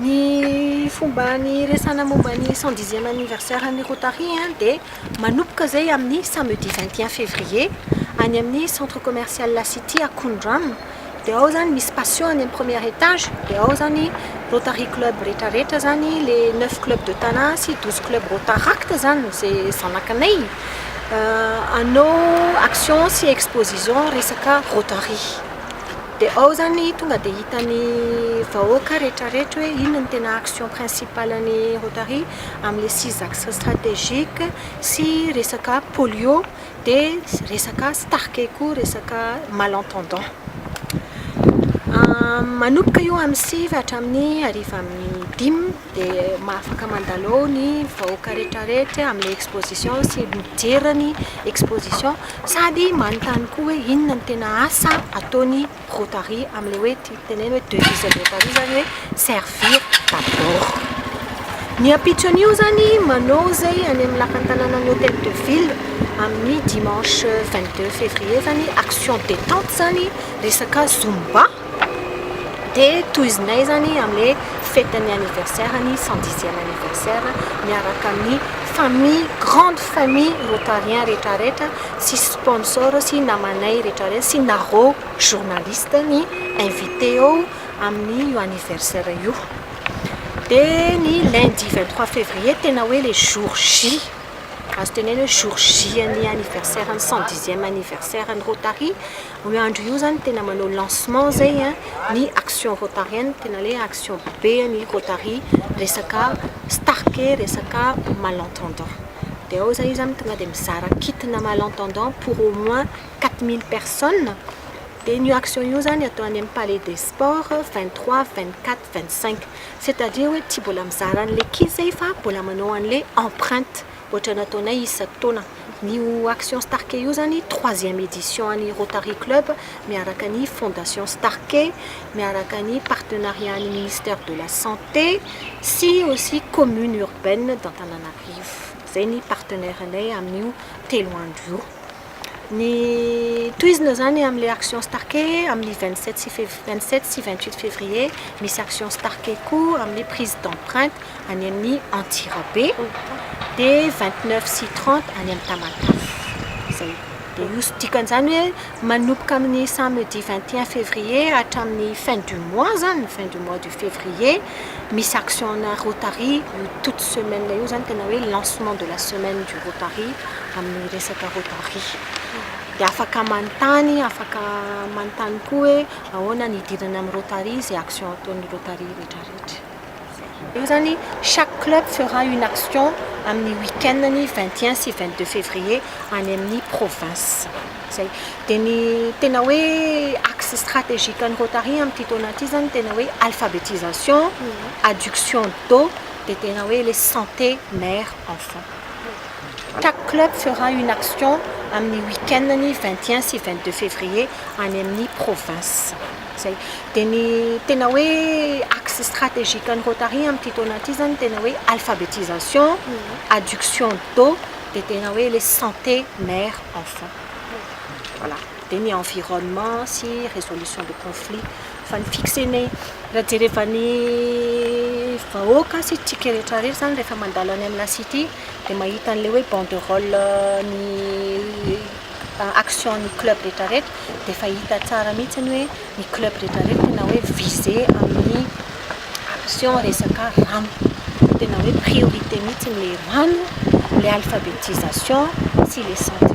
Ny fomba niresahana momba ny cent dixième anniversaire an'i Rotary dia manomboka izay amin'ny samedi vingt et un février any amin'ny centre commercial La City Akondrano. Dia ao izany misy patio any amin'ny premier étage, dia ao izany Rotary Club rehetrarehetra izany, ilay neuf clubs de Tana sy douze clubs Rotaract izany izay zanakanay. Hanao action sy exposition resaka Rotary. Dia ao izany tonga dia hitan'ny vahoaka rehetrarehetra hoe inona no tena action principale ny Rotary amin'ilay six axes stratégiques sy resaka polio dia resaka starke koa resaka malentendant. Manomboka io amin'ny sivy hatramin'ny hariva amin'ny dimy. dia afaka mandalo ao ny vahoaka rehetrarehetra amin'ilay exposition sy mijery ny exposition sady manontany koa hoe inona no tena asa ataon'ny Rotary amin'ilay hoe tenenina hoe devise an'ny Rotary izany hoe servir d'abord. Ny ampitso an'io izany manao izay any amin'ny lapan'ny tanànan'ny Hotel de Ville amin'ny dimanche vingt deux fevrier izany action detente izany resaka zumba. Dia tohizinay izany amin'ny hoe fête ny anniversaire ny cent dixième anniversaire miaraka amin'ny famille grande famille rotarien retraretra sy sponsor sy namanay retraretra sy nareo journaliste ny invité eo amin'ny io anniversaire io. Dia ny lundi vingt trois février tena hoe ilay jour J azo tenena hoe jour J an'ny anniversaire ny cent dixième anniversaire ny rotary. Io andro io zany tena manao lancement zay a ny action rotarienne tena le action be ny rotary resaka stark e resaka mal entendant de ao zay izy zany tonga de mizara kit na mal entendant pour au moins quatre mille personnes de ny io action io zany atao any amin'ny palais des sports vingt trois vingt quatre vingt cinq c'est à dire hoe tsy mbola mizara an'le kit zay fa mbola manao an'le empreinte Ohatra nataonay isaky taona. Ny io Action Starke io zany troisième édition an'ny Rotary Club miaraka ny Fondation Starke, miaraka ny partenariat an'ny Ministère de la Santé sy aussi Commune Urbaine d'Antananarivo. Zay ny partenaires-nay amin'io telo andro io. Ny tohizina izany amin'ilay action starke amin'ny vingt sept sy fevri- vingt sept sy vingt huit fevrier, misy action starke koa amin'ny prise d'empreinte any amin'ny Antsirabe, dia vingt neuf sy trente any amin'ny Tamatave. Izay. Dia io sy dikan'izany hoe manomboka amin'ny samedi vingt et un fevrier hatramin'ny fin du mois izany, fin du mois du Février, misy action ana Rotary io toute semaine io zany tena hoe lancement de la semaine du Rotary amin'ny resaka Rotary. Dia afaka manontany, afaka manontany koa hoe ahoana ny hidirana amin'ny Rotary, izay action ataon'ny Rotary retraretra. Io zany chaque club fera une action amin'ny week-end ny vingt et un sy vingt deux février any amin'ny province. Izay. Dia ny tena hoe axe stratégique an'ny Rotary amin'ity taona ity izany tena hoe alphabetisation, adduction d'eau, dia tena hoe ilay santé mère enfant. Chaque club fera une action amin'ny week-end-ny vingt et un sy vingt deux février any amin'ny province. Izay. Dia ny tena hoe axe stratégique an'ny Rotary amin'ity taona ity izany tena hoe alphabetisation, adduction d'eau, dia tena hoe ilay santé mère. enfants voilà dia ny environnement sy résolution de conflit fa ny fixer ny raha jerevan'ny vahoaka sy tsika rehetra rehetra zany rehefa mandalo any amina city dia mahita an'ilay hoe banderole ny action ny club rehetra rehetra dia efa hita tsara mihitsy ny hoe ny club rehetra rehetra tena hoe viser amin'ny action resaka rano. Tena hoe priorité mihitsy ilay rano, ilay alphabetisation sy ilay santé.